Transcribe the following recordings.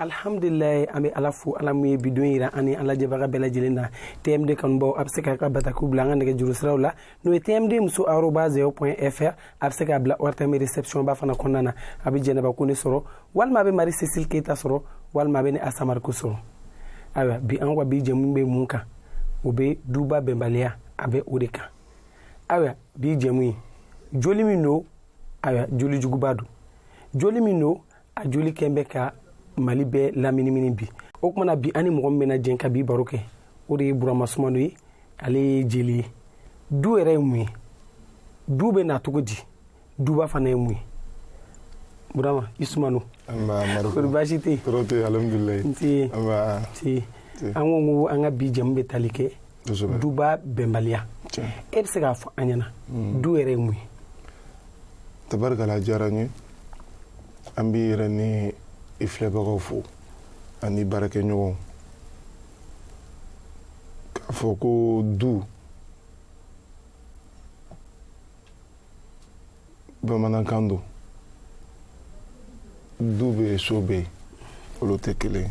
alhamdulilayi an bɛ ala fo ala min ye bi don yira an ni an lajɛbaga bɛɛ lajɛlen na tmd kanubaw a bɛ se k'a ka batakiw bila an ka nɛgɛ juru siraw la n'o ye tmd muso aroba zero pɔn fr a bɛ se k'a bila ortm reception ba fana kɔnɔna na a bɛ jɛnɛba kone sɔrɔ walima a bɛ mari cecile keyita sɔrɔ walima a bɛ ne asa mariko sɔrɔ ayiwa bi an ka bi jɛmu bɛ mun kan o bɛ duba bɛnbaliya a bɛ o de kan ayiwa bi jɛmu ye joli min don ayiwa joli juguba don joli min don a jolikɛ in bɛ ka mali bɛɛ laminimini bi o kumana bi ani mɔgɔ min bɛna jɛn ka bi baro kɛ o de ye burama sumano ye ale ye jeli ye du yɛrɛ ye mun ye du bɛ na cogo di duba fana ye mun ye burama i sumano kori baasi tɛ yen an ko ko an ka bi jɛmu bɛ tali kɛ duba bɛnbaliya e bɛ se k'a fɔ an ɲɛna hmm. du yɛrɛ ye mun ye tabarikala diyara n ye an b'i yɛrɛ ni i filɛbagaw fo ani baarakɛɲɔgɔnw k'a fɔ ko du bamanankan don du bɛ yen so bɛ yen olu tɛ kelen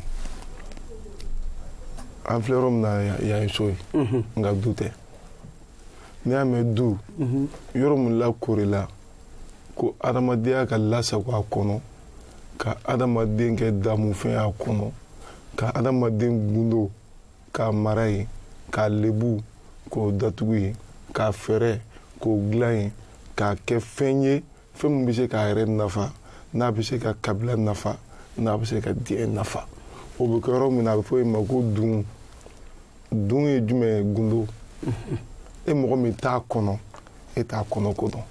an filɛ yɔrɔ min na yan ye so ye nka du tɛ n'i y'a mɛn du yɔrɔ min lakoorila ko adamadenya ka lasago a kɔnɔ ka adamaden kɛ damufɛn a kɔnɔ ka adamaden gundo k'a mara yen k'a lebu k'o datugu yen k'a fɛɛrɛ k'o dilan yen k'a kɛ fɛn ye fɛn min bɛ se k'a yɛrɛ nafa n'a bɛ se ka kabila nafa n'a bɛ se ka diɲɛ nafa o bɛ kɛ yɔrɔ min na a bɛ fɔ yen ma ko dun dun ye jumɛn ye gundo e mɔgɔ min t'a kɔnɔ e t'a kɔnɔ ko dɔn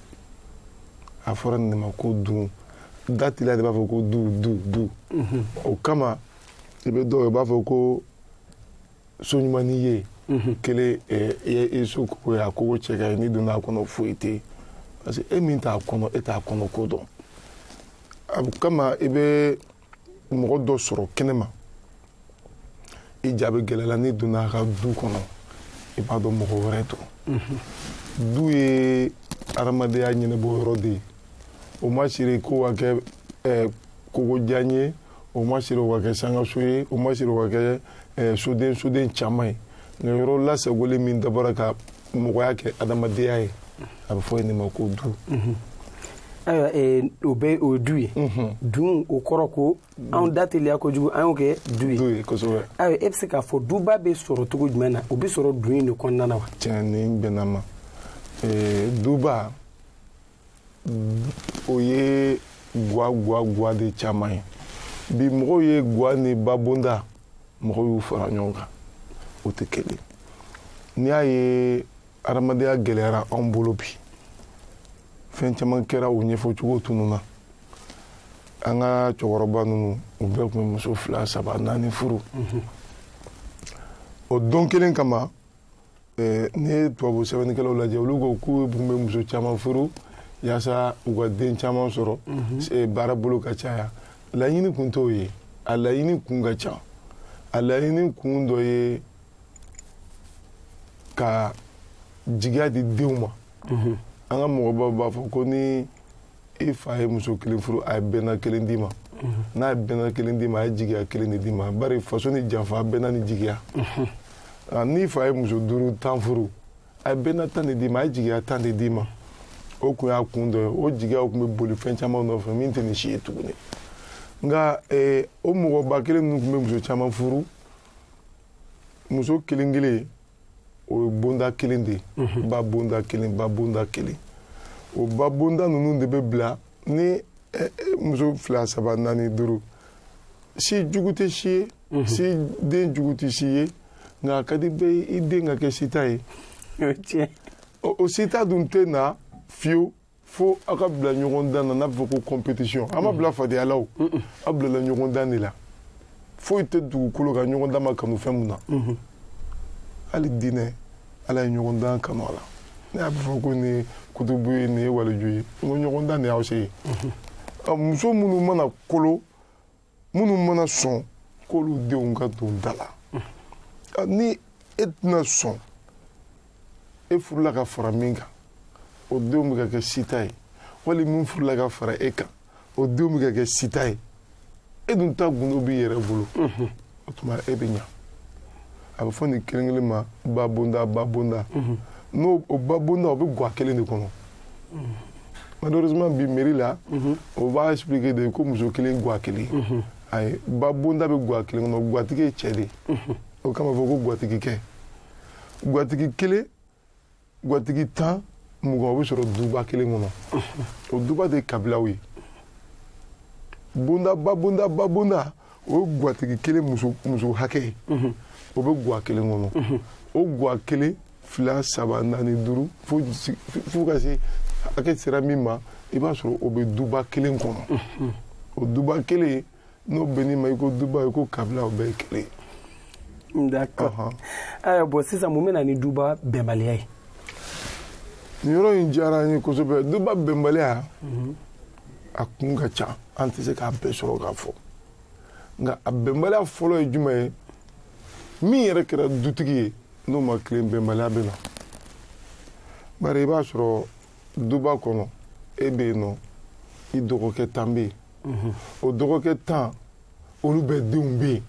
a fɔra nin ma ko dun da teliya de b'a fɔ ko du du du o kama i bɛ dɔw ye u b'a fɔ ko so ɲuman n'i ye mhm. kelen eh, i ye i so kogo ye a kogo cɛ ka ɲi n'i donna a kɔnɔ foyi tɛ yen parce que e min t'a kɔnɔ e t'a kɔnɔ ko dɔn o kama i bɛ mɔgɔ dɔ sɔrɔ kɛnɛma i ja bɛ gɛlɛya la n'i donna a ka du kɔnɔ i b'a dɔn mɔgɔ wɛrɛ don mhm. du ye adamadenya ɲɛnabɔ yɔrɔ de ye o ma siri k'o ka kɛ eh, kogo jan ye o ma siri o ka kɛ sangaso ye o ma siri o ka kɛ eh, soden soden caman ye nka yɔrɔ lasagolen min dabɔra ka mɔgɔya kɛ adamadenya ye a bɛ fɔ yen de ma ko du mhm. ayiwa eh, o bɛ o ye du ye mhm. dun o kɔrɔ ko anw da teliya kojugu an y'o kɛ du ye du ye kosɛbɛ ayiwa e bɛ se k'a fɔ duba bɛ sɔrɔ cogo jumɛn na o bɛ sɔrɔ dun in de kɔnɔna na wa tiɲɛ nin bɛnna a ma eh, duba o ye gwa gwa gwa de caman ye bi mɔgɔw ye gwa ni babonda mɔgɔw y'u fara ɲɔgɔn kan o tɛ kelen n'i y'a ye adamadenya gɛlɛyara anw bolo bi fɛn caman kɛra o ɲɛfɔcogo tununna an ka cɛkɔrɔba ninnu u bɛɛ tun bɛ muso fila saba naani furu o don kelen kama Eh, n'i ye tubabu sɛbɛnnikɛlaw lajɛ olu ko k'u tun bɛ muso caman furu yaasa u ka den caman sɔrɔ mhm. eh, baara bolo ka caya laɲini kun t'o ye a laɲini kun ka ca a laɲini kun dɔ ye ka jigiya di denw ma mhm. an ka mɔgɔbaw b'a fɔ ko ni i fa ye muso kelen furu a ye bɛnna kelen d'i ma n'a ye bɛnna kelen d'i ma a ye jigiya kelen de d'i ma bari faso ni janfa bɛnna ni jigiya n'i fa ye muso duuru tan furu a ye bɛnna tan de d'i ma a ye jigiya tan de d'i ma o kun y'a kun dɔ ye o jigiyaw tun bɛ boli fɛn caman nɔfɛ min tɛ nin si ye tuguni nka eh, o mɔgɔba kelen ninnu tun bɛ muso caman furu muso kelen kelen o ye bonda kelen de ye mhm. babonda kelen babonda kelen o babonda ninnu de bɛ bila ni eh, eh, muso fila saba naani duuru si jugu tɛ si ye mhm. si den jugu tɛ si ye nka a ka di bɛɛ ye i den ka kɛ sita ye o sita dun tɛ na fiyewu fo aw ka bila ɲɔgɔndan na n'a bɛ fɔ ko compétition an m'aw bila fadenya la o aw bilala ɲɔgɔndan de la foyi tɛ dugukolo kan ɲɔgɔndan ma kanu fɛn min na hali diinɛ ala ye ɲɔgɔndan kanu a la ne y'a fɔ ko nin ye kutubu ye nin ye waliju ye n ko ɲɔgɔndan de y'aw se ye muso minnu mana kolo minnu mana sɔn k'olu denw ka don da la ni e tɛna sɔn e furula ka fara min kan o denw bɛ ka kɛ sita ye wali min furula ka fara e kan o denw bɛ ka kɛ sita ye e dun ta gundo b'i yɛrɛ bolo o tuma e bɛ ɲa a bɛ fɔ nin kelen kelen ma babonda babonda n'o o babonda o bɛ gwa kelen de kɔnɔ malheureusement bi mairie la o b'a expliquer de ko muso kelen gwa kelen ayi babonda bɛ gwa kelen kɔnɔ gwatigi ye cɛ de ye o kama fɔ ko gwatigi kɛ gwatigi kelen gwatigi tan mugan o bɛ sɔrɔ duba kelen kɔnɔ o duba de ye kabilaw ye bonda babonda babonda o ye gwatigi kelen muso muso hakɛ ye o bɛ gwa kelen kɔnɔ o gwa kelen fila saba naani duuru fo fo ka se hakɛ sera min ma i b'a sɔrɔ o bɛ duba kelen kɔnɔ o duba kelen n'o bɛnn'i ma i ko duba i ko kabila o bɛɛ ye kelen ye D'accord. Uh -huh. uh, bon, sisan mun bɛ na ni duba bɛnbaliya ye. Nin yɔrɔ in diyara n ye kosɛbɛ duba bɛnbaliya mhm. a kun ka ca an tɛ se k'a bɛɛ sɔrɔ k'a fɔ nka a bɛnbaliya fɔlɔ ye jumɛn ye min yɛrɛ kɛra dutigi ye n'o ma tilen bɛnbaliya bɛ na bari i b'a sɔrɔ duba kɔnɔ e bɛ yen nɔ i dɔgɔkɛ tan bɛ yen o dɔgɔkɛ tan olu bɛɛ denw bɛ yen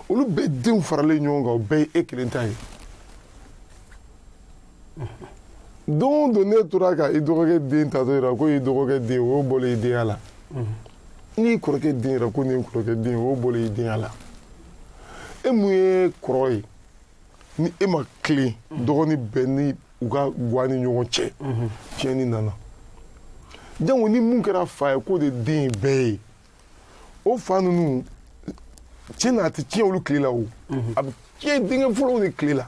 olu bɛɛ denw faralen ɲɔgɔn kan o bɛɛ ye e kelen ta ye don o don n'e tora ka i dɔgɔkɛ den ta k'o yira ko i dɔgɔkɛ den o bɔlen i denya la n'i kɔrɔkɛ den yira ko nin kɔrɔkɛ den o bɔlen i denya la e mun ye kɔrɔ ye ni e ma tilen dɔgɔnin bɛɛ ni u ka guwa ni ɲɔgɔn cɛ tiɲɛni nana jango ni mun kɛra fa ye k'o de den ye bɛɛ ye o fa ninnu tiɲɛ na a tɛ tiɲɛ olu tile la o a bɛ tiɲɛ denkɛ fɔlɔw de tile la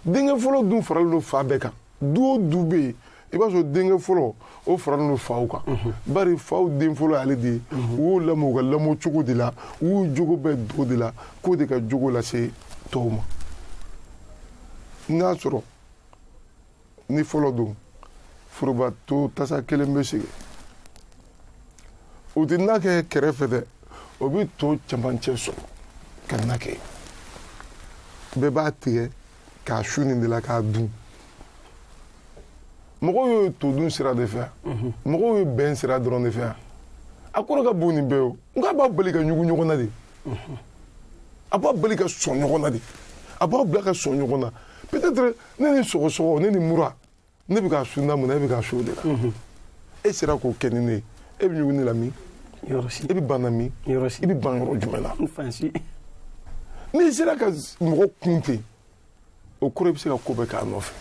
denkɛ fɔlɔ dun faralen don fa bɛɛ kan du o du bɛ yen i b'a sɔrɔ denkɛ fɔlɔ o faralen don faw kan bari faw den fɔlɔ y'ale de ye u y'o lamɔ u ka lamɔ cogo de la u y'u jogo bɛɛ don o de la k'o de ka jogo lase tɔw ma n'a sɔrɔ ni fɔlɔ don forobato tasa kelen bɛ sigi u tɛ na kɛ kɛrɛfɛ dɛ u bɛ to cɛmancɛ sɔrɔ ka na kɛ bɛɛ b'a tigɛ k'a su nin de la k'a dun mɔgɔw ye to dun sira de fɛya mhm. mɔgɔw ye bɛn sira dɔrɔn de fɛya a kɔrɔ ka bon nin bɛɛ o nka a b'a bali ka ɲugu ɲɔgɔn na de mhm. a b'a bali ka sɔn ɲɔgɔn na de a b'a bila ka sɔn ɲɔgɔn na peut-être ne ni sɔgɔsɔgɔ ne ni mura ne bɛ k'a su na mun na e bɛ k'a su o de la mhm. e sera k'o kɛ ni ne ye e bɛ ɲugu ne la min e bɛ ban na min i bɛ ban yɔrɔ jumɛn na n'i sera ka mɔgɔ kun ten o kɔrɔ i bɛ se ka ko bɛɛ k'a nɔfɛ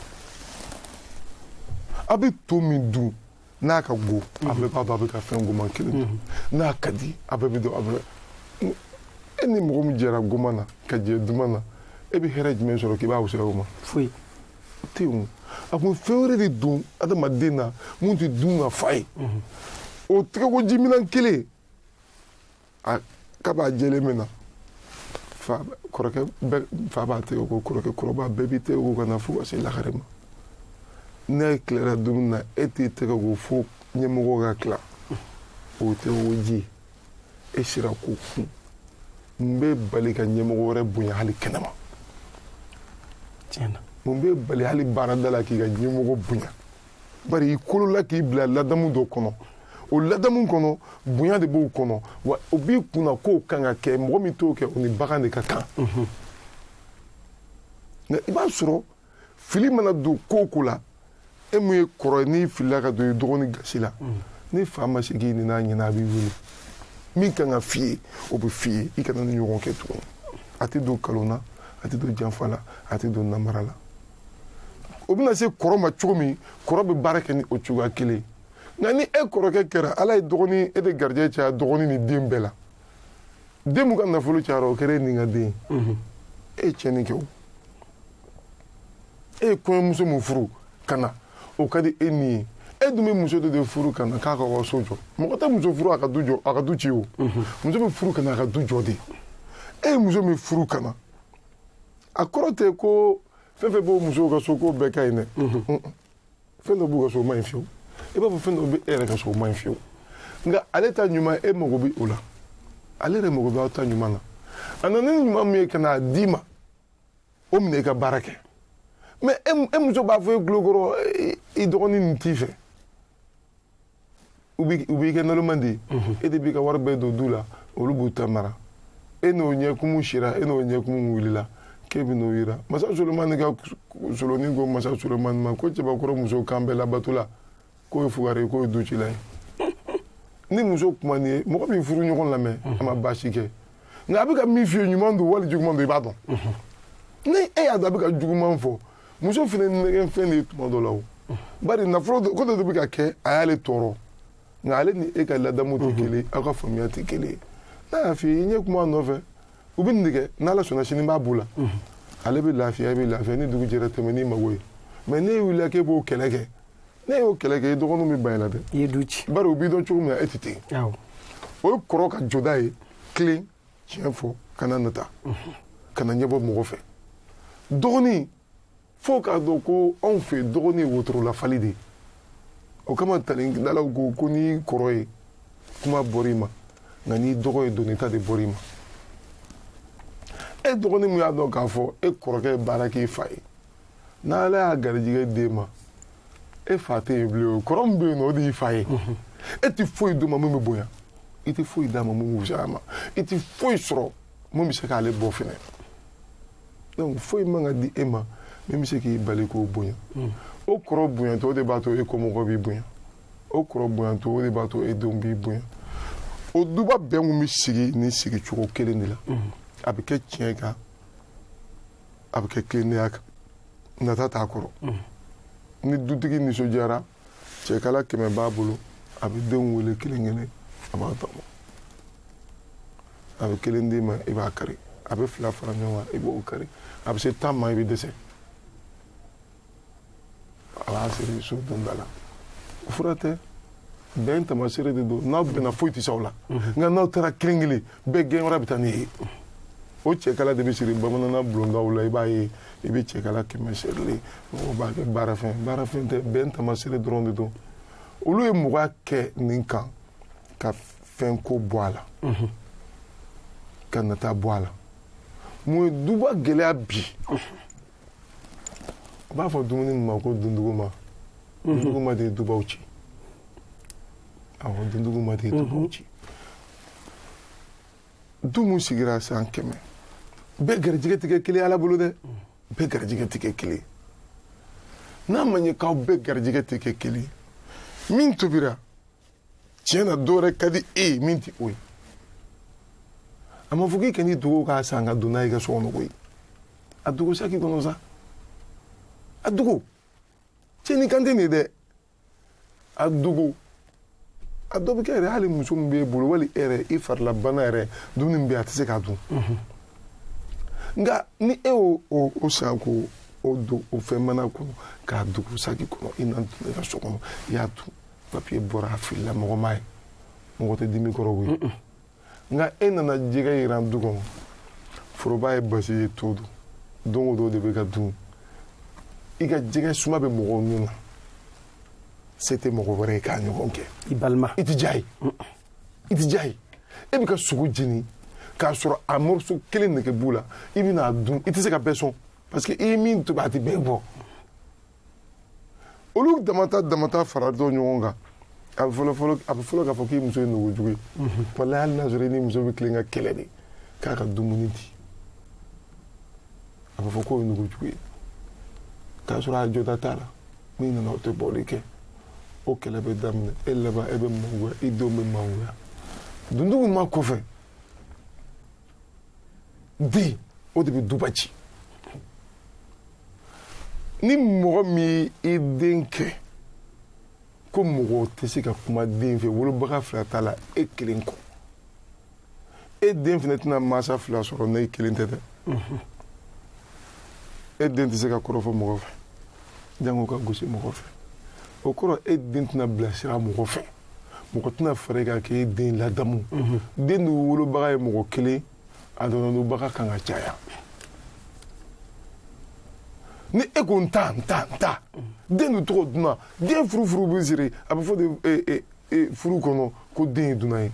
a bɛ to min dun n'a ka go a bɛɛ b'a dɔn a bɛ ka fɛn goman kelen dun mhm. n'a ka di a bɛɛ b'a dɔn a bɛ e ni mɔgɔ min jɛra goman na ka jɛ duman na e bɛ hɛrɛ jumɛn sɔrɔ k'i b'a wusaya o ma foyi tɛ yen a kun fɛn wɛrɛ de don adamaden na mun tɛ dun ka fa ye o tɛgɛko jiminan kelen a k'a b'a jɛlen min na fa kɔrɔkɛ bɛɛ fa b'a tɛgɛ ko kɔrɔkɛ kɔrɔba bɛɛ b'i tɛgɛ ko ka na fo ka se lagare ma n'e tilara dumuni na e t'i tɛgɛ ko fo ɲɛmɔgɔ ka tila o tɛgɛ ko ji e sera k'o kun mun b'e bali ka ɲɛmɔgɔ wɛrɛ bonya hali kɛnɛma tiɲɛ na mun b'e bali hali baarada la k'i ka ɲɛmɔgɔ bonya bari i kolola k'i bila ladamu dɔ kɔnɔ o ladamu kɔnɔ bonya de b'o kɔnɔ wa o b'i kunna k'o kan ka kɛ mɔgɔ min t'o kɛ o ni bagan de ka kan nka i b'a sɔrɔ fili mana don ko o ko la e min ye kɔrɔ ye n'i filila ka don i dɔgɔnin gasi la mm. ni fa ma se k'i nɛn'a ɲɛna a b'i wele min kan ka f'i ye o bɛ f'i ye i kana nin ɲɔgɔn kɛ tuguni a tɛ don kalon na a tɛ don janfa la a tɛ don namara la o bɛna se kɔrɔ ma cogo min kɔrɔ bɛ baara kɛ ni o cogoya kelen ye nka ni e kɔrɔkɛ kɛra ala ye dɔgɔnin e de garijɛgɛ caya dɔgɔnin ni den bɛɛ la den min ka nafolo cayara o kɛra e ni ka den mhm. e ye tiɲɛni kɛ o e ye kɔɲɔmuso min furu ka na o ka di e ni ye e dun bɛ muso dɔ de furu ka na k'a ka aw so jɔ mɔgɔ tɛ muso furu a ka du jɔ a ka du ci o mhm. muso bɛ furu ka na a ka du jɔ de e ye muso min furu ka na a kɔrɔ tɛ ko fɛn fɛn b'o musow ka so k'o bɛɛ ka ɲi dɛ mhm. fɛn dɔ b'u ka so o man ɲi fiyewu i b'a fɔ fɛn dɔ bɛ e yɛrɛ ka so o man ɲi fiyewu nka ale ta ɲuman e mago bɛ o la ale yɛrɛ mago bɛ aw ta ɲuman na a nana ni ɲuman min ye ka n'a d'i ma o minɛ i ka baara kɛ mɛ e, e muso b'a fɔ e tulokɔrɔ i dɔgɔnin nin t'i fɛ u b'i kɛ naloman de ye mhm. e de b'i ka wari bɛɛ don du la olu b'u ta mara e n'o ɲɛkumu sira e n'o ɲɛkumu wulila k'e bɛn'o yira masa solomani ka soloni ko masa solomani ma ko cɛbakɔrɔ muso kan bɛɛ labatola k'o ye fugari ye k'o ye ducila ye ni muso kuman'i ye mɔgɔ b'i furuɲɔgɔn lamɛn a ma baasi kɛ nka a bɛ ka min f'i ye ɲuman don wali juguman don i b'a dɔn ni e y'a dɔn a bɛ ka juguman fɔ muso fana nɛgɛnfɛn de ye tuma dɔ la o bari nafolo ko dɔ de bɛ ka kɛ a y'ale tɔɔrɔ nka ale ni e ka ladamu tɛ kelen aw ka faamuya tɛ kelen n'a y'a f'i ye i ɲɛ kuma a nɔfɛ u bɛ nin de kɛ n'ala sɔnna sini b'a b'u la ale bɛ lafiya i bɛ lafiya ni dugu jɛra tɛmɛ n'i mago ye mɛ n'e wulila k'e b'o kɛlɛ kɛ n'e y'o kɛlɛ kɛ i dɔgɔninw bɛ ban i la dɛ i ye du ci bari u b'i dɔn cogo min na e tɛ ten awɔ o ye kɔrɔ ka jɔda ye tilen tiɲɛ fɔ kana nata kana ɲɛbɔ mɔgɔ fɛ dɔgɔnin fo k'a dɔn ko anw fɛ dɔgɔnin ye wotorolafali de ye o kama tarikidalaw ko ko n'i kɔrɔ ye kuma bɔr'i ma nka n'i dɔgɔ ye doni ta de bɔr'i ma e dɔgɔnin min y'a dɔn k'a fɔ e kɔrɔkɛ ye baara k'i fa ye n'ala y'a garijɛgɛ d'e ma e fa tɛ yen bilen o kɔrɔ min bɛ yen nɔ o de y'i fa ye e tɛ foyi d'o ma min bɛ bonya i tɛ foyi d'a ma min bɛ wusaya a ma i tɛ foyi sɔrɔ min bɛ se k'ale bɔ fɛnɛ donc foyi man ka di e ma min bɛ se k'i bali k'o bonya o kɔrɔ bonyantɔ o de b'a to e kɔmɔgɔ b'i bonya o kɔrɔ bonyantɔ o de b'a to e denw b'i bonya o duba bɛn kun bɛ sigi ni sigicogo kelen de la a bɛ kɛ tiɲɛ kan a bɛ kɛ tilennenya kan nata t'a kɔrɔ ni dutigi nisɔndiyara cɛkala kɛmɛ b'a bolo a bɛ denw wele kelen kelen a b'a tɔmɔ a bɛ kelen d'i ma i b'a kari a bɛ fila fara ɲɔgɔn kan i b'o kari a bɛ se tan ma i bɛ dɛsɛ a b'a siri so donda la o fura tɛ bɛn tamasere de don n'aw bɛnna foyi tɛ s'aw la nka n'aw taara kelen kelen bɛɛ gɛn wɛrɛ bɛ taa n'i ye o cɛkala de bɛ siri bamananna bulondaw la i b'a ye i bɛ cɛkala kɛmɛ sirilen mɔgɔw b'a kɛ baarafɛn baarafɛn tɛ bɛn tamasere dɔrɔn de don olu ye mɔgɔya kɛ nin kan ka fɛnko bɔ a la ka nata bɔ a la mun ye duba gɛlɛya bi u b'a fɔ dumuni min ma ko dunduguma dunduguma de dubaw ci awɔ dunduguma de dubaw ci du min sigira san kɛmɛ bɛɛ garijɛgɛ tɛ kɛ kelen ala bolo dɛ bɛɛ garijɛgɛ tɛ kɛ kelen n'a ma ɲɛ k'aw bɛɛ garijɛgɛ tɛ kɛ kelen min tobira tiɲɛ na dɔ wɛrɛ ka di e ye min tɛ o ye a ma fɔ k'i kan'i dogo k'a san ka don n'a ye i ka so kɔnɔ koyi a dogo saki kɔnɔ sa a dogo tiɲɛni kan tɛ nin ye dɛ a dogo a dɔ bɛ kɛ yɛrɛ hali muso min b'e bolo wali e yɛrɛ i farilabana yɛrɛ dumuni min bɛ yen a tɛ se k'a dun nka ni e y'o san k'o o don o fɛn mana kɔnɔ k'a dogo saki kɔnɔ i na don i ka so kɔnɔ i y'a dun papiye bɔra a filila mɔgɔ m'a ye mɔgɔ tɛ dimi kɔrɔ koyi nka e nana jɛgɛ yiran du kɔnɔ foroba ye basi ye to don don o don de bɛ ka dun i ka jɛgɛ suma bɛ mɔgɔw nun na se tɛ mɔgɔ wɛrɛ ye k'a ɲɔgɔn kɛ i balima i tɛ diya ye i tɛ diya ye e bɛ ka sogo jeni k'a sɔrɔ a morceau kelen nege b'u la i bɛna a dun i tɛ se ka bɛɛ sɔn parce que i ye min tobi a tɛ bɛɛ bɔ olu damata damata faratɔ ɲɔgɔn kan a bɛ fɔlɔ fɔlɔ a bɛ fɔlɔ k'a fɔ k'i muso ye nugujugu ye walayi hali n'a sɔrɔ i ni muso bɛ tilen ka kɛlɛ de k'a ka dumuni di a bɛ fɔ k'o ye nugujugu ye k'a sɔrɔ a jɔda t'a la n'i nana o tɛ bɔli kɛ o kɛlɛ bɛ daminɛ e laban e bɛ mangoya i denw bɛ mangoya dunduguma kɔfɛ den o de bɛ duba ci ni mɔgɔ min ye i den kɛ ko mɔgɔ tɛ se ka kuma den fɛ wolobaga fila t'a la e kelen kɔ e den fana tɛna mansa fila sɔrɔ n'e kelen tɛ dɛ e den tɛ se ka kɔrɔfɔ mɔgɔ fɛ jango ka gosi mɔgɔ fɛ o kɔrɔ e den tɛna bilasira mɔgɔ fɛ mɔgɔ tɛna fara e kan k'e den ladamu mhm. den dun wolobaga ye mɔgɔ kelen a tɔnɔdunbaga kan ka caya ni e ko n ta n ta n ta den dun tɔgɔ dunan den furu furu bɛ siri a bɛ fɔ de e, e, e, furu kɔnɔ ko den ye dunan ye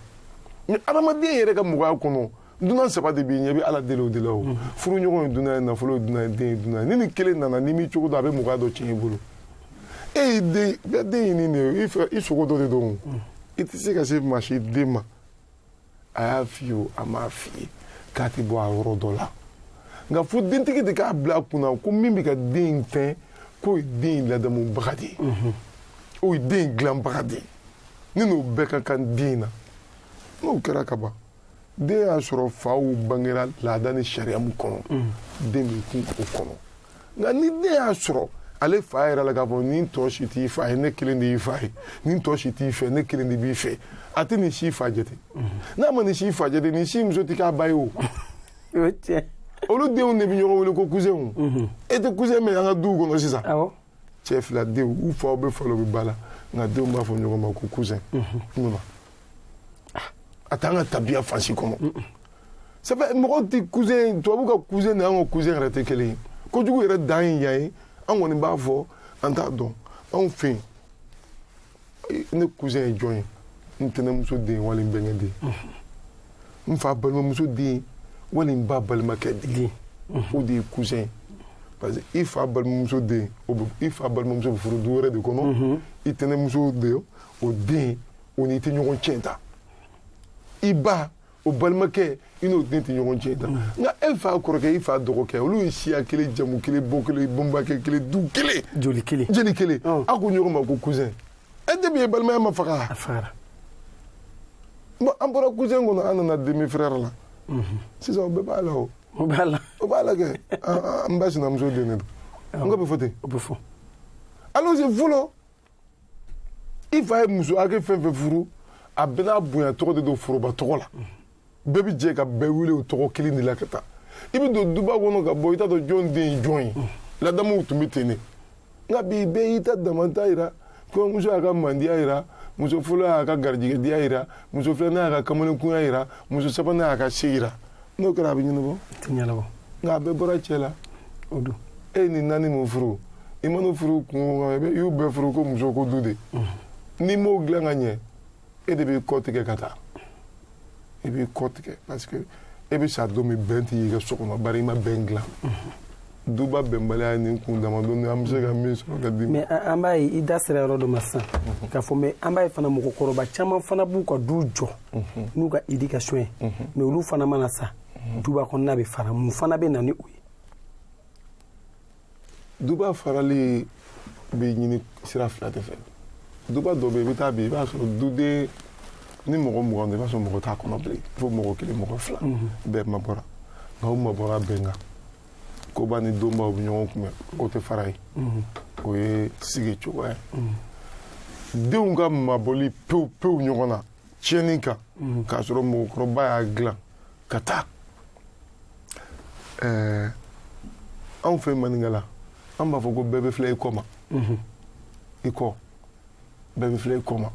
mais adamaden yɛrɛ ka mɔgɔya kɔnɔ dunan saba de b'i ɲɛ i bɛ ala deli o de la o furuɲɔgɔn ye dunan ye nafolo ye dunan ye den ye dunan ye ni nin kelen nana n'i m'i cogo dɔn a bɛ mɔgɔya dɔ tiɲɛ i bolo e y'i den bɛɛ den ye nin de ye i fɛ i sogo dɔ de don i tɛ se ka se maa si den ma a y'a f'i ye o a m'a f'i ye k'a tɛ bɔ a yɔrɔ dɔ la nka fo dentigi de k'a bila a kunna ko min bɛ ka den in fɛn k'o ye den in ladamubaga de ye o ye den in dilanbaga de ye ne n'o bɛɛ ka kan den in na n'o kɛra ka ban den y'a sɔrɔ faw bangera laada ni sariya min kɔnɔ den bɛ kun o kɔnɔ nka ni den y'a sɔrɔ ale fa yɛrɛ la k'a fɔ nin tɔ si t'i fa ye ne kelen de y'i fa ye nin tɔ si t'i fɛ ne kelen de b'i fɛ a tɛ nin si fa jate n'a ma nin si fa jate nin si muso tɛ k'a ba ye o olu denw de bɛ ɲɔgɔn wele ko cousinw mhm. e tɛ cousin mɛn an ka duw kɔnɔ sisan cɛ fila denw u faw bɛ fa la u bɛ ba la nka denw b'a fɔ ɲɔgɔn ma ko cousin mhm. a t'an ka tabiya fan si kɔnɔ c'est vrai mɔgɔw tɛ cousin tubabu ka cousin ni an ka cousin yɛrɛ tɛ kelen ye kojugu yɛrɛ dan ye yan ye an kɔni b'a fɔ an t'a dɔn anw fɛ yen ne cousin ye jɔn ye n tɛnɛmuso den wali n bɛnkɛ den n fa balimamuso den wali n ba balimakɛ den o de ye cousin ye parce que i fa balimamuso den o bɛ i fa balimamuso bɛ furu du wɛrɛ de kɔnɔ i tɛnɛmuso de o den o n'i tɛ ɲɔgɔn tiɲɛ ta i ba o balimakɛ i n'o den tɛ ɲɔgɔn tiɲɛ ta nka e fa kɔrɔkɛ i fa dɔgɔkɛ olu ye siya kelen jamu kelen bɔ kelen bɛnbakɛ kelen du kelen joli kelen jeli kelen a ko ɲɔgɔn ma ko cousin e tɛ min ye balimaya ma faga a fagara bon an bɔra cousin kɔnɔ an nana demi frère la sisan o bɛɛ b'a la o o b'a la o b'a la kɛ an ba sinamuso den de don n ko bɛ fɔ ten o bɛ fɔ alors fɔlɔ i fa ye muso hakɛ fɛn fɛn furu a bɛɛ n'a bonya tɔgɔ de don foroba tɔgɔ la bɛɛ bɛ jɛ ka bɛɛ wele o tɔgɔ kelen de la ka taa i bɛ don duba kɔnɔ ka bɔ i t'a dɔn jɔn den ye jɔn ye ladamuw tun bɛ ten de nka bi bɛɛ y'i ta damanta jira kɔɲɔmuso y'a ka mandiya jira muso fɔlɔ y'a ka garijɛgɛdiya jira muso filanan y'a ka kamalenkunya jira muso sabanan y'a ka se jira n'o kɛra a bɛ ɲɛnabɔ a tɛ ɲɛnabɔ nka a bɛɛ bɔra cɛ la o don e ye nin naani min furu i mana furu kungo kan i bɛ- i y'u bɛɛ furu ko muso ko du de n'i m'o dilan ka ɲɛ e de b'i kɔ tigɛ ka taa i b'i kɔ tigɛ parce que e bɛ sa don min bɛn t'i ka so kɔnɔ bari i ma bɛn dilan duba bɛnbaliya ni kun damadɔni an bɛ se ka min sɔrɔ ka di mais an b'a ye i da sera yɔrɔ dɔ ma sisan mhm. k'a fɔ mais an b'a ye fana mɔgɔkɔrɔba caman fana b'u ka du jɔ mhm. n'u ka éducation ye mhm. mais olu fana mana sa duba kɔnɔna bɛ fara mun fana bɛ na ni o ye duba farali bɛ ɲini sira fila de fɛ duba dɔ bɛ yen i bɛ taa bi i b'a sɔrɔ duden ni mɔgɔ mugan don i b'a sɔrɔ mɔgɔ t'a kɔnɔ bilen fo mɔgɔ kelen mɔgɔ fila bɛɛ mabɔra nka u mabɔra bɛn kan koba ni donbaw bɛ ɲɔgɔn kunbɛn o tɛ fara ye o ye sigi cogoya ye denw ka mabɔli pewu pewu ɲɔgɔn na tiɲɛni kan k'a sɔrɔ mɔgɔkɔrɔba y'a dilan ka taa ɛɛ anw fɛ maninkala an b'a fɔ ko bɛɛ bɛ filɛ i kɔ ma i kɔ bɛɛ bɛ filɛ i kɔ ma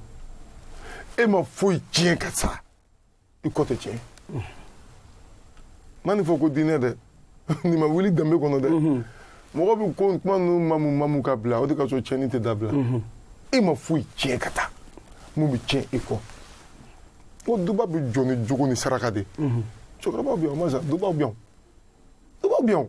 e ma foyi tiɲɛ ka sa i kɔ tɛ tiɲɛ n ma nin fɔ ko diinɛ dɛ nin ma wuli danbe kɔnɔ dɛ mɔgɔ bɛ ko kuma ninnu mamu mamu ka bila o de kosɔn tiɲɛni tɛ dabila e ma foyi tiɲɛ ka taa mun bɛ tiɲɛ e kɔ ko duba bɛ jɔ ni jogo ni saraka de cɛkɔrɔbaw bɛ yan o masa dubaw bɛ yan dubaw bɛ yan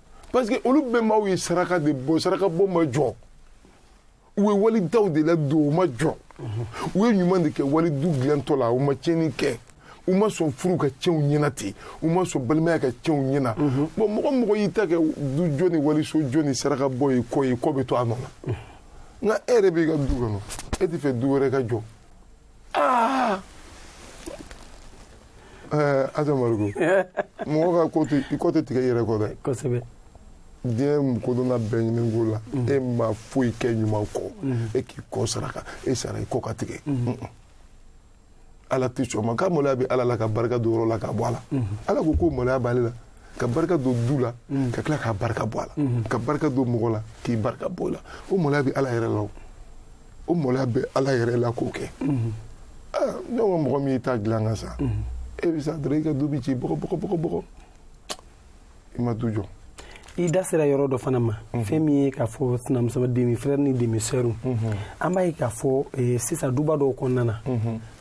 parce que olu bɛnbaw ye saraka de bɔ saraka bɔ ma jɔ u ye walidaw de ladon u ma jɔ u ye ɲuman de kɛ walidu dilantɔ la u ma tiɲɛni kɛ u ma sɔn furu ka tiɲɛ u ɲɛna ten u ma sɔn balimaya ka tiɲɛ u ɲɛna bon mɔgɔ mɔgɔ y'i ta kɛ du jɔ ni waliso jɔ ni saraka bɔ ye kɔ ye kɔ bɛ to a nɔ na nka e yɛrɛ b'i ka du kɔnɔ e t'a fɛ du wɛrɛ ka jɔ Amadu mɔgɔ ka kɔ tɛ tigɛ i yɛrɛ kɔ dɛ kosɛbɛ diɲɛ kodɔnna bɛɛ ɲininka o la e ma foyi kɛ ɲuman kɔ e k'i kɔ saraka e sara i kɔ ka tigɛ ala tɛ sɔn ma ko maloya bɛ ala la ka barika don yɔrɔ la ka bɔ a la ala ko ko maloya b'ale la ka barika don du la ka tila k'a barika bɔ a la ka barika don mɔgɔ la k'i barika bɔ o la o maloya bɛ ala yɛrɛ la o maloya bɛ ala yɛrɛ la k'o kɛ ne ko mɔgɔ min y'i ta dilan ka sa e bɛ sa dɔrɔn i ka du bɛ ci bɔgɔ bɔgɔ bɔgɔ bɔgɔ i ma du jɔ i da sera yɔrɔ dɔ fana ma fɛn min ye k'a fɔ sinamuso demi frère ni demi sœur an b'a ye k'a fɔ eh, sisan duba dɔw kɔnɔna na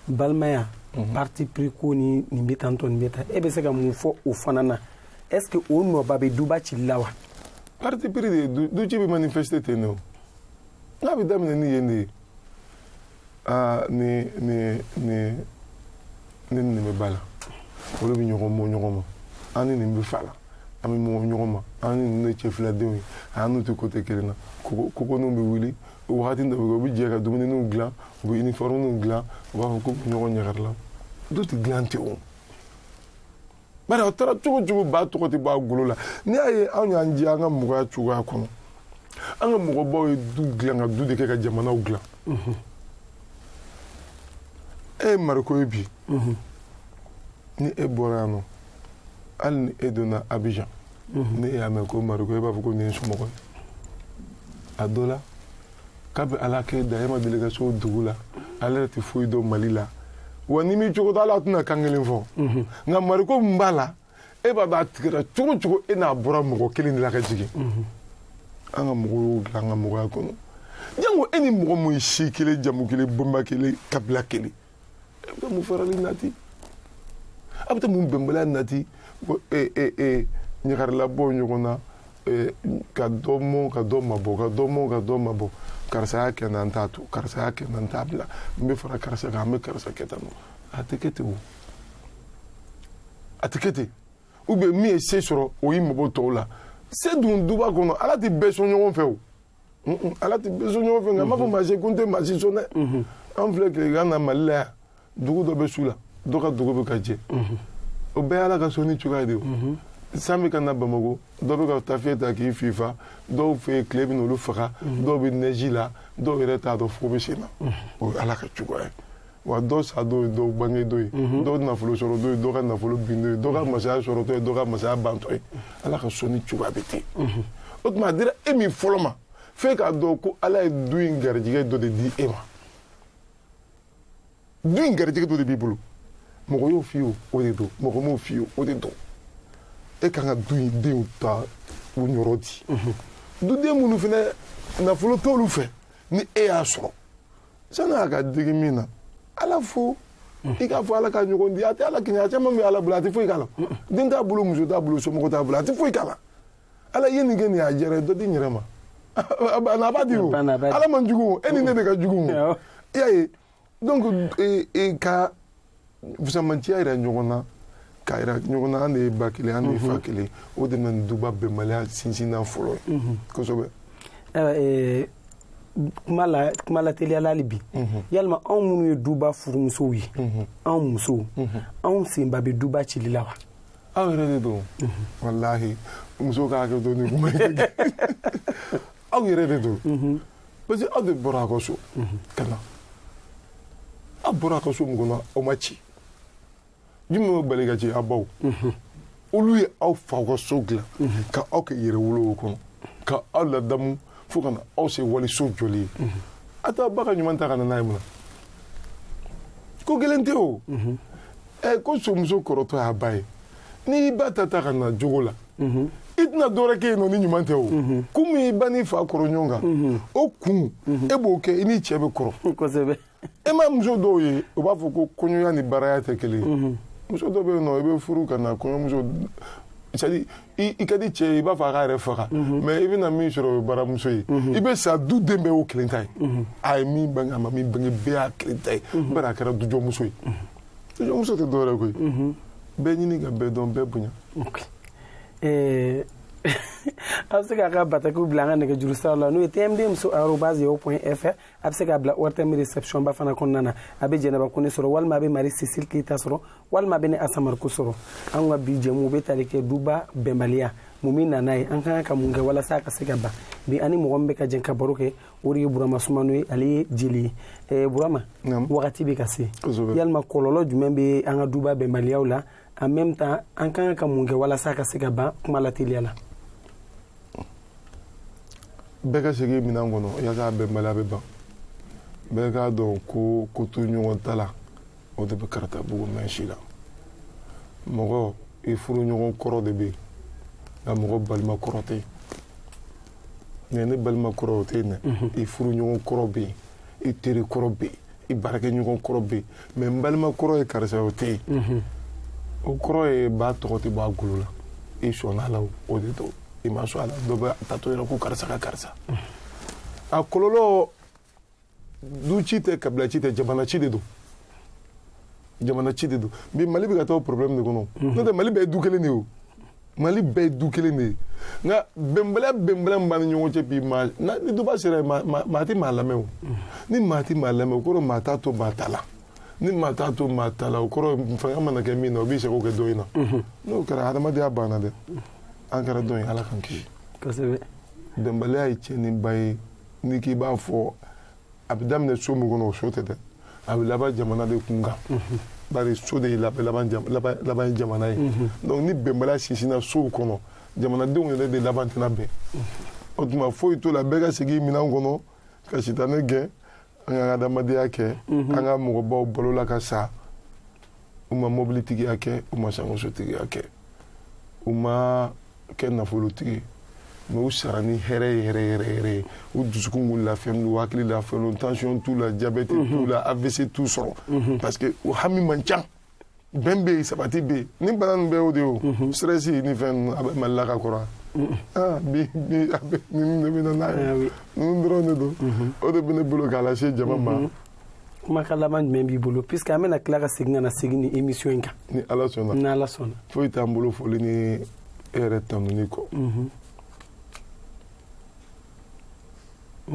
balimaya parti pris ko ni nin bɛ tan tɔ nin bɛ tan e bɛ se ka mun fɔ o fana na est ce que o nɔba bɛ duba cili la wa parti pris de ye du- du ci bɛ manifester ten de o n'a bɛ daminɛ ni yen de ye aa ni ni ni ne ni nin bɛ ba la olu bɛ ɲɔgɔn mɔ ɲɔgɔn ma an ni nin bɛ fa la an bɛ mɔ ɲɔgɔn ma an ni nin de cɛ filadenw ye an n'u tɛ kote kelen na kogo kogoninw bɛ wuli o wagati dɔ bɛ kɛ u bɛ jɛ ka dumuniw dilan u bɛ iniformiw dilan u b'a fɔ k'u bɛ ɲɔgɔn ɲagari la du tɛ dilan ten o bari a taara cogo cogo ba tɔgɔ tɛ bɔ a golo la n'i y'a ye anw y'an diya an ka mɔgɔya cogoya kɔnɔ an ka mɔgɔbaw ye du dilan ka du de kɛ ka jamanaw dilan e ye mariko ye bi ni e bɔra yan nɔ hali ni e donna abijan ni e y'a mɛn ko mariko e b'a fɔ ko nin ye somɔgɔ ye a dɔ la kabi ala k'e da e ma deli ka se o dugu la ale yɛrɛ tɛ foyi dɔn mali la wa ni min cogo t'a la a tɛna kan kelen fɔ mhm. nka mariko min b'a la e b'a dɔn a tigɛra cogo cogo e n'a bɔra mɔgɔ kelen de la ka jigin mhm. an ka mɔgɔw y'o dilan an ka mɔgɔya kɔnɔ jango e ni mɔgɔ min ye si kelen jamu kelen bonba kelen kabila kelen a bɛ taa mun farali nati a bɛ taa mun bɛnbaliya nati ko ee ee ee ɲagarilabɔ ɲɔgɔn na ee ka dɔ mɔn ka dɔ mabɔ ka dɔ mɔn ka dɔ mabɔ karisa y'a kɛ n na n t'a to karisa y'a kɛ n na n t'a bila n bɛ fara karisa kan n bɛ karisa kɛ tan nɔ a tɛ kɛ ten o a tɛ kɛ ten ou bien min ye se sɔrɔ o y'i mabɔ tɔw la se dun duba kɔnɔ ala tɛ bɛɛ sɔn ɲɔgɔn fɛ o ala tɛ bɛɛ sɔn ɲɔgɔn fɛ nka a m'a fɔ maa si ko n tɛ maa si sɔn dɛ an filɛ tilegan na mali la yan dugu dɔ bɛ su la dɔ ka dugu bɛ ka jɛ o bɛɛ ye ala ka sɔnni cogoya de ye san bɛ ka na bamakɔ dɔw bɛ ka tafiɲɛ ta k'i fifa dɔw fɛ yen tile bɛ n'olu faga dɔw bɛ nɛji la dɔw yɛrɛ t'a dɔn fo bɛ sen na o ye ala ka cogoya ye wa dɔ sa don ye dɔ bange don ye mhm. dɔ nafolo sɔrɔ don ye dɔ ka nafolo bin don ye dɔ ka mhm. masaya sɔrɔ don ye dɔ ka masaya ban don ye ala ka sɔnni cogoya bɛ ten mhm. o tuma a dira e min fɔlɔ ma f'e k'a dɔn ko ala ye du in garijɛgɛ dɔ de di e ma du in garijɛgɛ dɔ de b'i bolo mɔgɔ y'o f'i ye o de don mɔgɔ m'o f'i ye o de don e kan ka du in denw ta u niyɔrɔ di duden minnu fana nafolo t'olu fɛ ni e y'a sɔrɔ sani a ka digi min na ala fo i k'a fɔ ala k'a ɲɔgɔn di a tɛ ala kɛɲɛ a caman bɛ ala bolo a tɛ foyi k'a la den t'a bolo muso t'a bolo somɔgɔ t'a bolo a tɛ foyi k'a la ala ye nin kɛ nin y'a jɛra dɔ di n yɛrɛ ma a banna a b'a di o Banna a b'a di. ala man jugu o e ni ne de ka jugu o i y'a ye donc eh, eh, ka fusamanciya yira ɲɔgɔn na k'a yira ɲɔgɔn na an de ye ba kelen an de ye fa mhm. kelen o de bɛ na ni duba bɛnbaliya sinsinnan fɔlɔ ye mhm. kosɛbɛ eh, kuma la kuma la teliyala hali bi mhm. yalima anw minnu ye duba furumusow ye anw musow anw senba bɛ duba cili la wa aw yɛrɛ de don walahi muso ka hakɛ to nin kuma ye aw yɛrɛ de don parce que aw de bɔra a ka so ka na aw bɔra a ka so min kɔnɔ o ma ci jumɛn bɛ bali ka ci aw baw olu ye aw faw ka so dilan ka aw kɛ yɛrɛwolo o kɔnɔ ka aw ladamu fo ka na aw se waliso jɔli ye a t'a ba ka ɲuman ta ka na n'a ye mun na ko gɛlɛn tɛ o ɛ ko so musokɔrɔ dɔ y'a ba ye n'i ba ta ta ka na jogo la i tɛna dɔwɛrɛ kɛ yen nɔ ni ɲuman tɛ o kun min i ba n'i fa kɔrɔ ɲɔgɔn kan o kun e b'o kɛ i n'i cɛ bɛ kɔrɔ kosɛbɛ e ma muso dɔw ye u b'a fɔ ko kɔɲɔya ni baraya tɛ kelen ye muso dɔ bɛ yen nɔ i bɛ furu ka na kɔɲɔmuso c'est à dire i ka di cɛ ye i b'a fɔ a k'a yɛrɛ faga mais i bɛna min sɔrɔ o ye baramuso ye i bɛ sa duden bɛɛ y'o kelen ta ye a ye min bange a ma min bange bɛɛ y'a kelen ta ye bari a kɛra dujɔmuso ye muso tɛ dɔwɛrɛ koyi mhm. bɛɛ ɲini ka bɛɛ dɔn bɛɛ bonya eh, a bɛ se k'a ka batakiw bila an ka nɛgɛjuru sira la n'o ye tmd muso arobase yahoo point fr a bɛ se k'a bila ortm réception ba fana kɔnɔna na a bɛ jɛnɛba kone sɔrɔ walima a bɛ marie cécile keyita sɔrɔ walima a bɛ ne asa mariko sɔrɔ an ka bi jɛmu bɛ tali kɛ duba bɛnbaliya mun bɛ na n'a ye an ka kan ka mun kɛ walasa a ka se ka ban bi an ni mɔgɔ min bɛ ka jɛn ka baro kɛ o de ye burama sumano ye ale ye jeli ye eh, burama wagati bɛ ka se yalima kɔlɔlɔ jumɛn bɛ an ka duba bɛnbaliyaw la en même temps an ka kan ka mun kɛ walasa ka se ka ban kuma lateliya la bɛɛ ka segin minɛn kɔnɔ yaasa bɛnbaliya bɛ ban bɛɛ k'a dɔn ko kotoɲɔgɔntala o de bɛ karatabugu mɛɛn si la mɔgɔ i furuɲɔgɔn kɔrɔ de bɛ yen nka mɔgɔ balima kɔrɔ tɛ yen ne balima kɔrɔ o tɛ yen dɛ i furuɲɔgɔn kɔrɔ bɛ yen i teri kɔrɔ bɛ yen i baarakɛɲɔgɔn kɔrɔ bɛ yen mais n balima kɔrɔ ye karisa o tɛ yen o kɔrɔ ye ba tɔgɔ tɛ bɔ a golo la i sɔnna a la o de don i ma sɔn a la dɔ bɛ a taatɔ yɛrɛ ko karisa ka karisa a kɔlɔlɔ du ci tɛ kabila ci tɛ jamana ci de don jamana ci de don bi mali bɛ ka taa o problème de kɔnɔ mhm. n'o tɛ mali bɛɛ ye du kelen de ye o mali bɛɛ ye du kelen de ye nka bɛnbaliya bɛnbaliya min b'an ni ɲɔgɔn cɛ bi maa ni duba sera yen maa tɛ maa lamɛn o mhm. ni maa tɛ maa lamɛn o kɔrɔ maa t'a to maa ta la ni maa t'a to maa ta la o kɔrɔ fanga mana kɛ min na o b'i sago kɛ dɔ in na mhm. n'o kɛra hadamadenya banna dɛ an kɛra dɔ in ala k'an kisi kosɛbɛ bɛnbaliya ye tiɲɛniba ye ni k'i b'a fɔ a bɛ daminɛ so min kɔnɔ o so tɛ dɛ a bɛ laban jamana de kun kan bari so de laban ye jamana ye donc ni bɛnbaliya sinsinna sow kɔnɔ jamanadenw yɛrɛ de laban tɛna bɛn o tuma foyi t'o la bɛɛ ka segin minɛn kɔnɔ ka sitanɛ gɛn an k'an ka adamadenya kɛ an ka mɔgɔbaw balola ka sa u ma mɔbilitigiya kɛ u ma sankansotigiya kɛ u ma kɛ nafolotigi ye mais u sara ni hɛrɛ ye hɛrɛ yɛrɛ yɛrɛ ye u dusukun tun lafiyalen u hakili lafiyalen tansiyɔn t'u la jabɛti t'u mhm. la avc t'u sɔrɔ mhm. parce que u hami man ca bɛn bɛ yen sabati bɛ yen ni bana nin bɛɛ y'o de ye o mhm. stress ni fɛn a bɛ mali la ka kɔrɔ ah, bi bi a bɛɛ ninnu de bɛ na n'a ye ninnu dɔrɔn de don o de bɛ ne bolo k'a lase jama ma kumakan laban jumɛn b'i bolo puisque an bɛna tila ka segin ka na segin ni émission in kan ni ala sɔnna ni ala sɔnna foyi t'an bolo foli ni e yɛrɛ tanuni kɔ mhm.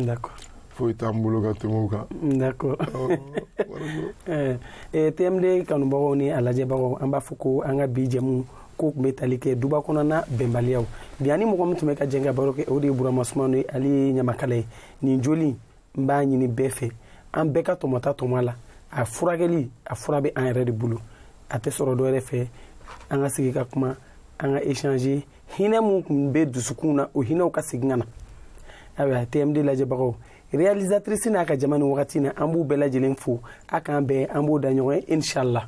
d'accord foyi t'an bolo ka tɛmɛ o kan d'accord eh, eh, tmd kanubagaw ni a lajɛbagaw an b'a fɔ ko an ka bi jɛmu ko tun bɛ tali kɛ duba kɔnɔna bɛnbaliyaw bi an ni mɔgɔ min tun bɛ ka jɛn ka baro kɛ o de ye burama sumano ye ale ye ɲamakala ye nin joli n b'a ɲini bɛɛ fɛ an bɛɛ ka tɔmɔta tɔmɔ a la a furakɛli a fura bɛ an yɛrɛ de bolo a tɛ sɔrɔ dɔwɛrɛ fɛ an ka sigi ka kuma an ka échanger hinɛ min tun bɛ dusukun na o hinɛw ka segin ka na ayiwa tmd lajɛbagaw réalisatrice n'a ka jama nin wagati na an b'u bɛɛ lajɛlen fo a k'an bɛn an b'o da ɲɔgɔn ye inshallah